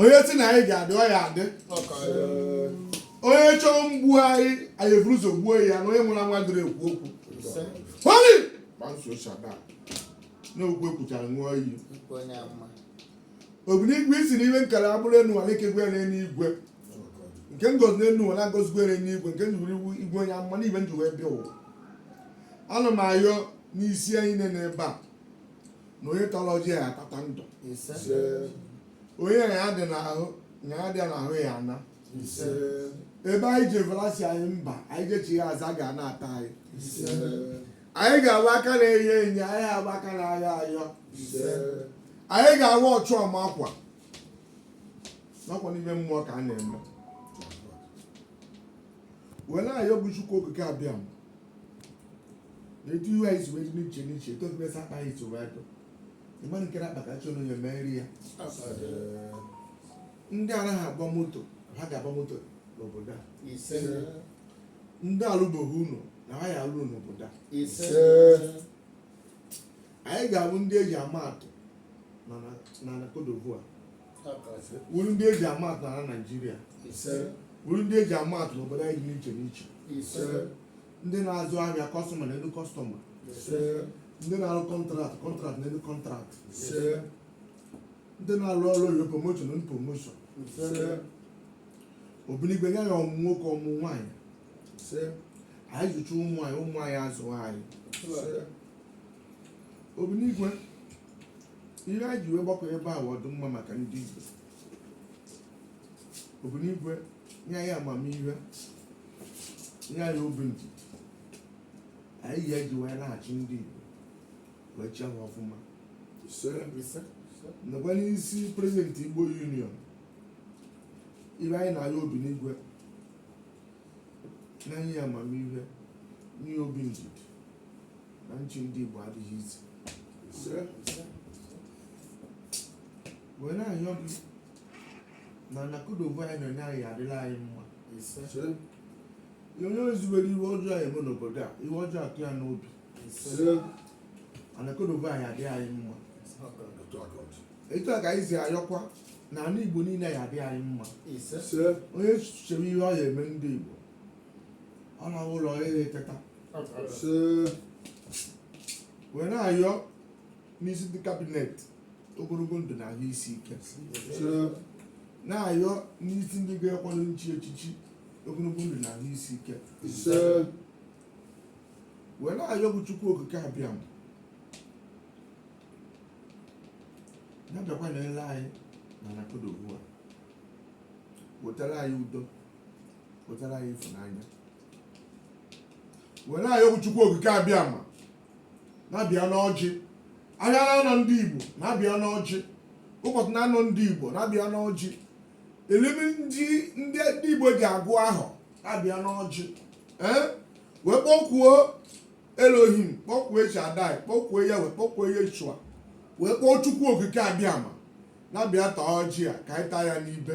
onye sị na anyị ga-adị ọ ya adị onye chọọ mgbu anyị anyị eburu ụzọ gbuo ya na onye nwụrụ anwụ adịghị ekwu okwu holi gbanso shada na okwu ekwuchara ṅụọ iyi obinigwe ị sị na ihe m kere agbụ n'enu ala e kegwe ya n'elu igwe nke m gọzi n'elu ụwa na agọzigwe ya n'elu igwe nke m jiri iwu igwe onye amụma na ibe m ji wee bịa ụwa ana m ayọ n'isi anyị niile n'ebe a na onye tara ọjị a atata ndụ ise onye ọya dị n'ahụ ya ana ise ebe anyị jevelasi anyị mba anyị jechi ya aza ga na-ata anyị ise anyị ga-awụ aka na-enye enye anyị aha abụ aka na-ayọ ayọ ise anyị ga-awa ọchụ ọma akwa nakwa n'ime mmụọ ka a na-eme were ayọ bụ chukwu okike abịama na etu ihu anyị si wee dị n'iche n'iche etu ọdịbe sa mkpa anyị si wee dụ ị ma nke na-akpakachị onye meere ya ndị anaghị agba moto na ha ga-agba moto n'obodo a ise ndị alụbeghị ụlọ na ha ya alụ n'obodo a ise anyị ga-abụ ndị eji ama atụ na na na Cote d'Ivoire wụrụ ndị eji ama atụ na Naịjirịa wụrụ ndị eji ama atụ n'obodo anyị dị iche n'iche ndị na-azụ ahịa kọstọma n'elu kọstọma ndị na-arụ kọntraktị kọntraktị n'elu kọntraktị ndị na-arụ ọrụ oyibo promoshọn na promoshọn obinigwe anyị ayọ ọmụ nwoke ọmụ nwaanyị anyị zụcha ụmụ anyị ụmụ anyị azụọ anyị obinigwe ihe anyị ji wee gbakọ ebe a bụ ọdịmma maka ndị Igbo obinigwe nye anyị amamihe nye anyị obi ndidi anyị ya eji wee na-achị ndị Igbo wee chịa ha ọfụma nakwa n'isi prezidenti Igbo Union ihe anyị na-ayọ obinigwe na nye ya amamihe nye ya obi ndidi na ịchị ndị Igbo adịghị easy wee na-ayọ gị na ana Cote d'Ivoire anyị nọ na ya adịlị anyị mma onye zubere ihe ọjọọ eme n'obodo a ihe ọjọọ atụ ya n'obi ana Cote d'Ivoire anyị adịrị anyị mma etu a ka anyị si ayọkwa na ala Igbo niile ya adịrị anyị mma onye chere ihe ọ ya eme ndị Igbo ọ na ụla ya eteta so wee na-ayọ n'isi ndị kabinet ogologo ndụ na ahụ isi ike na-ayọ n'isi ndị ga-ekwado nchi echichi ogologo ndụ na ahụ isi ike so wee na-ayọ bụ Chukwu Okike Abịama na-abịakwa na-ele anyị na na Cote d'Ivoire wetara anyị udo wetara anyị ịfụnanya wee na-ayọ Chukwu Okike Abịama na-abịa n'ọjị ahịa na anọ ndị Igbo na-abịa n'ọjị ụbọchị na anọ ndị Igbo na-abịa n'ọjị element ndị Igbo ji agụ ahọ na-abịa n'ọjị ee wee kpọkuo Elohim kpọkuo El Shaddai kpọkuo Yahweh kpọkuo Yeshua wee kpọọ Chukwu Okike Abịama na-abịa taa ọjị a ka anyị taa ya n'ibe